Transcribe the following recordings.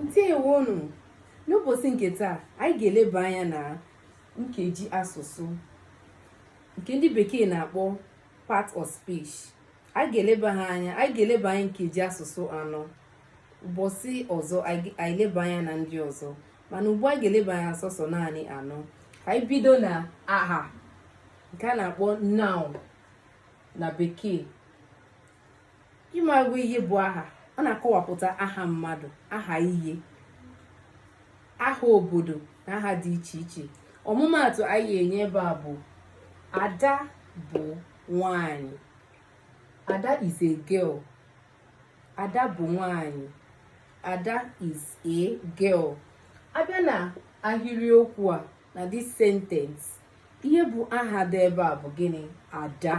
ndewonụ n'ụbọchị nke taa anyị ga-eleba anya na nkeji asụsụ nke ndị bekee na-akpọ part of speech anyị ga-eleba ha anya anyị ga-eleba anya nkeji asụsụ anọ ụbọchị ọzọ anyị eleba anya na ndị ọzọ mana ugbu a anyị ga-eleba anya sọsọ naanị anọ ka anyị bido na aha nke a na-akpọ noun na bekee ị makwa ihe bụ aha ọ na-akọwapụta aha mmadụ aha ihe aha obodo na aha dị iche iche ọmụmaatụ anyị ga-enye ebe a bụ ada bụ nwanyị ada is a girl ada bụ nwanyị ada is a girl a bịa na ahịrịokwu a na this sentence ihe bụ aha dị ebe a bụ gịnị ada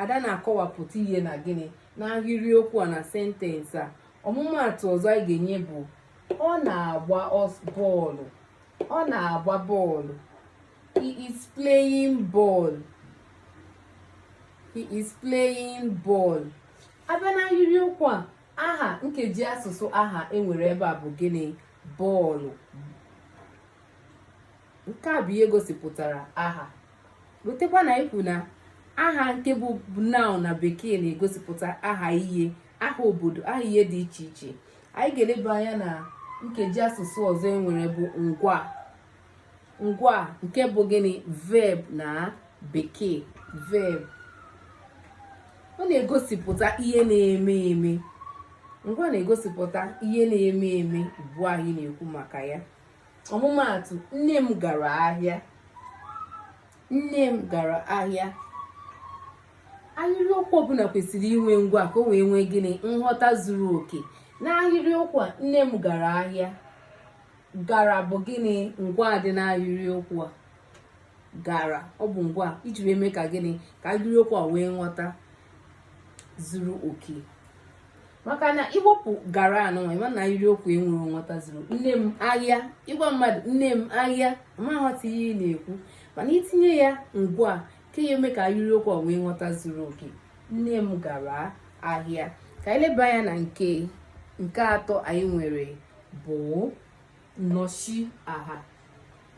ada na-akọwapụta ihe na gịnị n'ahịrịokwu a na sentensị a ọmụmaatụ ọzọ anyị ga-enye bụ ọ na-agba bọọlụ ọ na-agba bọọlụ he is playing ball he is playing ball a bịa n'ahịrịokwu a aha nkeji asụsụ aha e nwere ebe a bụ gịnị bọọlụ nke a bụ ihe gosipụtara aha ghọtakwa na anyị kwuru na aha nke bụ noun na bekee na-egosipụta aha ihe aha obodo aha ihe dị iche iche anyị ga-eleba anya na nkeji asụsụ ọzọ e nwere bụ ngwa ngwa nke bụ gịnị verb na bekee verb ọ na-egosipụta ihe na-eme eme ngwa na-egosipụta ihe na-eme eme ugbu a anyị na-ekwu maka ya ọmụmaatụ nne m gara ahịa nne m gara ahịa ahịrịokwu ọbụla kwesịrị inwe ngwa ka o wee nwee gịnị nghọta zuru oke n'ahịrịokwu a nne m gara ahịa gara bụ gịnị ngwa dị n'ahịrịokwu a gara ọ bụ ngwa e ji wee mee ka gịnị ka ahịrịokwu a nwee nghọta zuru oke maka na i wepụ gara anụnwa ị ma na ahịrịokwu e nwere nwetaziri nne m ahịa ị gwa mmadụ nne m ahịa a ma aghọta ihe ị na-ekwu mana itinye ya ngwa ka ya-eme ka ahịrịokwu a nwee nghọta zuru oke nne m gara ahịa ka anyị leba anya na nke nke atọ anyị nwere bụ nnọchi aha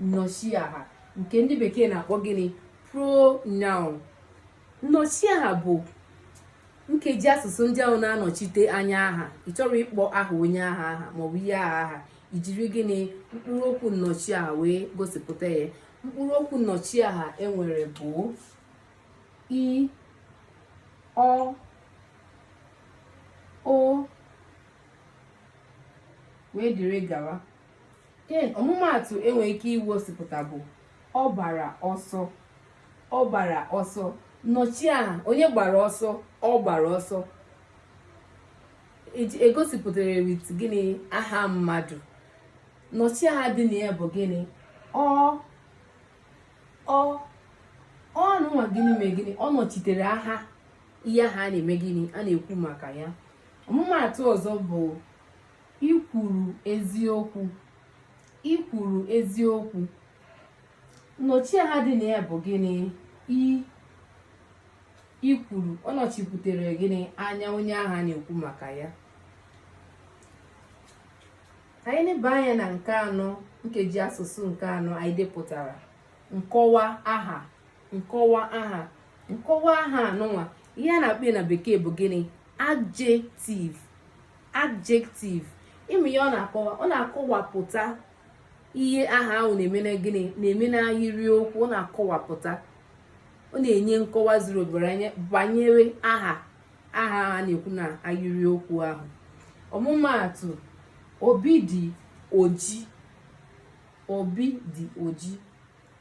nnọchi aha nke ndị bekee na-akpọ gịnị pronoun nnọchiaha bụ nkeji asụsụ ndị ahụ na-anọchite anya aha ị chọrọ ịkpọ aha onye ahụ aha maọbụ ihe ahụ aha i jiri gịnị mkpụrụ okwu nnọchiaha wee gosipụta ya mkpụrụ okwu nnọchiaha e nwere bụ i ọ o wee dịrị gawa Ken ọmụmaatụ e nwere ike igosipụta bụ ọ gbara ọsọ ọ gbara ọsọ nọchi aha onye gbara ọsọ ọ gbara ọsọ egosipụtara wit gịnị aha mmadụ nnọchiaha dị na ya bụ gịnị ọ ọ ọnụnwa gịnị mee gịnị ọ nọchitere aha ihe ahụ a na-eme gịnị a na-ekwu maka ya ọmụmaatụ ọzọ bụ I kwuru eziokwu. I kwuru eziokwu. Nnọchiaha dị na ya bụ gịnị? I i kwuru ọ nọchiputere gịnị anya onye ahụ a na-ekwu maka ya anyị neba anya na nke anọ nkeji asụsụ nke anọ anyị depụtara nkọwa aha nkọwa aha nkọwa aha anụnwa ihe a na-akpọ na bekee bụ gịnị adjective adjective ịmụ ihe ọ na-akọwa ọ na-akọwapụta ihe aha ahụ na-eme na gịnị na-eme n'ahịrịokwu ọ na-akọwapụta ọ na-enye nkọwa zuru obere anya banyere aha ahụ a na-ekwu na ahịrịokwu ahụ ọmụmaatụ Obi dị oji Obi dị oji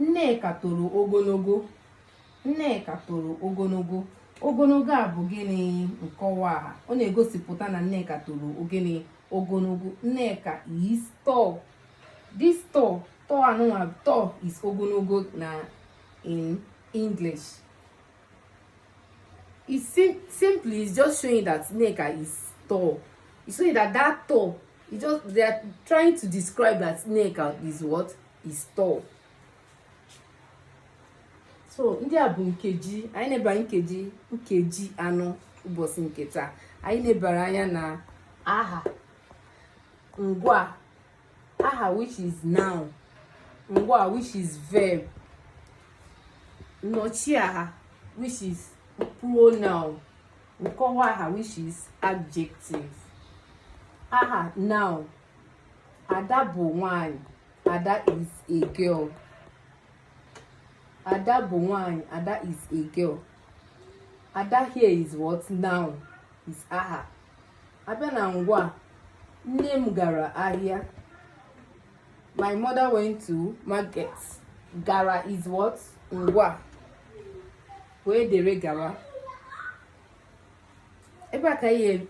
Nneka toro ogologo. Nneka toro ogologo. Ogologo a bụ gịnị nkọwa aha? Ọ na-egosipụta na Nneka toro gịnị ogologo. Nneka is tall. This tall, tall anụnwa tall is ogologo na in English. It sim simply is just showing that Nneka is tall. It's showing that that tall, it just they are trying to describe that Nneka is what? is tall so ndị a bụ nkeji anyị nebara nkeji nkeji anọ ụbọchị nke taa anyị nebara anya na aha ngwa aha which is noun ngwa which is verb nnọchiaha which is pronoun nkọwa aha which is adjective aha noun ada bụ nwanyị ada is a girl ada bụ nwanyị ada is a girl ada here is what noun is aha a bịa na ngwaa nne m gara ahịa my mother went to market gara is what ngwaa wee dere gara ebe a ka anyị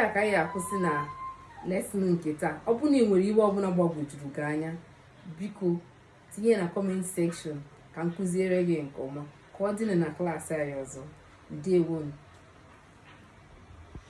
a ka anyị akwụsị na lesson nke taa ọ bụrụ na ị nwere ihe ọbụla gbagwojuru gị anya biko tinye na comment section ka m kụziere gị nke ọma ka ọ dị na class anyị ọzọ ndewonu